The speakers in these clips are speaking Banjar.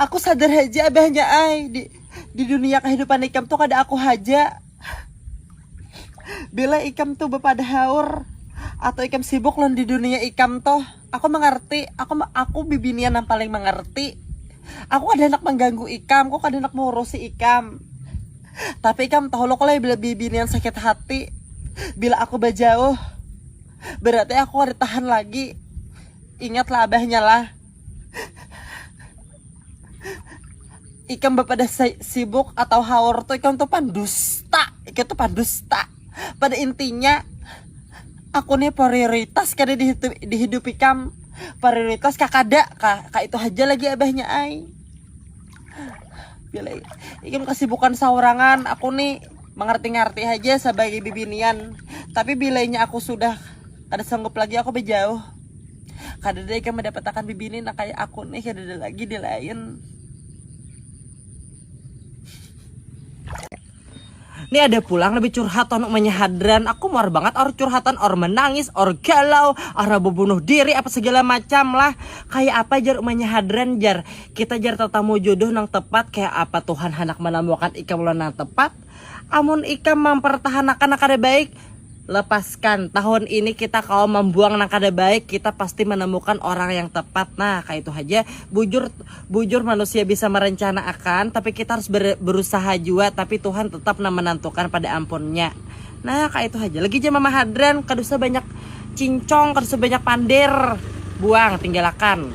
Aku sadar haja abahnya ai, di, di dunia kahidupan ikam tu kada aku haja. Bila ikam tu bapadahaur atau ikam sibuk lawan di dunia ikam tu, aku mangarti, aku aku bibinian nang paling mangarti. Aku kada handak mangganggu ikam, aku kada handak maurusi ikam. Tapi ikam tahu lo kolai bila bibinian sakit hati, bila aku bajauh, berarti aku kada tahan lagi. Ingatlah abahnya lah. ikam bapada sibuk atau haur tuh ikam tuh pandusta ikam tuh pandusta pada intinya aku nih prioritas kada di, di hidup ikam prioritas kakada kah kak itu aja lagi abahnya ai bila ikam kesibukan saurangan aku nih mengerti-ngerti aja sebagai bibinian tapi bilanya aku sudah kada sanggup lagi aku bejauh kadada ikam madapatakan bibini nang kaya aku nih kadada lagi di lain Ni ada pulang lebih curhat tonu umanya hadran. Aku muar banget or curhatan or menangis or galau or bunuh diri apa segala macam lah. Kayak apa jar umanya hadran jar. Kita jar tetamu jodoh nang tepat kayak apa Tuhan hendak menemukan ikam nang tepat. Amun ikam mampartahan akan nang kada baik, lepaskan. Tahun ini kita kawa mambuang nang kada baik, kita pasti manamukan orang yang tepat. Nah, kaya itu haja. Bujur, bujur manusia bisa marencana akan, tapi kita harus berusaha jua, tapi Tuhan tetap nang menantukan pada ampun nya. Nah kayak itu aja lagi jam mama hadran kada usah banyak cincong kada usah banyak pander buang tinggalakan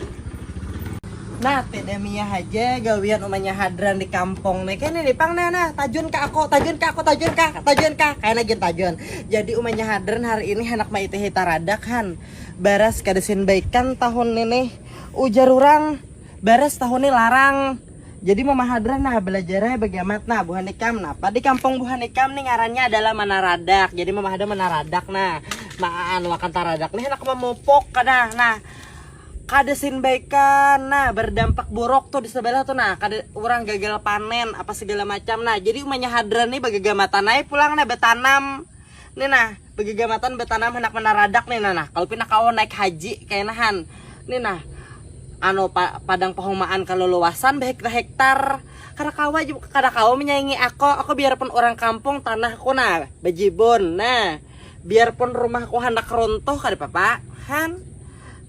nah tidak mia aja gawian umanya hadran di kampung nih kan ini pang nah nah tajun kak aku tajun kak aku tajun kak tajun kak kayak lagi tajun jadi umanya hadran hari ini anak maite hitaradak han baras kada sin baikan tahun ini ujar orang Baras tahun ni larang. Jadi mama hadran nah belajarnya bagi amat nah buhan ikam napa di kampung buhan ikam ni ngarannya adalah manaradak jadi mama hadran manaradak nah maan wakan taradak nih handak mamupuk kada nah kada sin baikan nah berdampak buruk tuh di sebelah tuh nah kada orang gagal panen apa segala macam nah jadi umanya hadran ni bagagamatan ai pulang nah batanam ni nah. Begegamatan betanam handak manaradak nih nah, kalau pina kawa naik haji kaenahan nih nah anu padang pahumaan kaleluasan behektar-hektar kada kawa kada kawa menyaingi ako, ako biarpun urang kampung tanahku nah bejibun nah biarpun rumahku handak runtuh kada papa han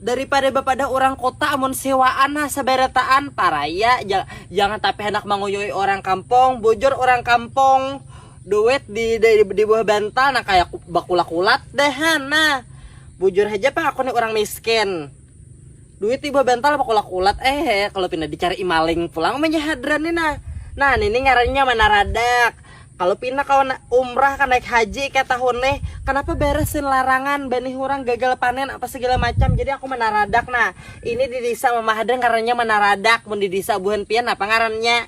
daripada bapadah urang kota amun sewaan nah seberataan paraya jangan tapi handak manguyui urang kampung bujur urang kampung duit di di, di, di bawah bantal nah kayak bakulat-kulat deh nah bujur aja pak aku nih orang miskin duit di bawah bantal bakulat-kulat eh kalau pindah dicari imaling pulang punya hadran nih nah nah ini ngarannya mana radak kalau pindah kawan umrah kan naik haji kayak tahun nih kenapa beresin larangan benih orang gagal panen apa segala macam jadi aku mana radak nah ini di desa mama hadran ngarannya mana radak mun di desa buhan pian apa ngarannya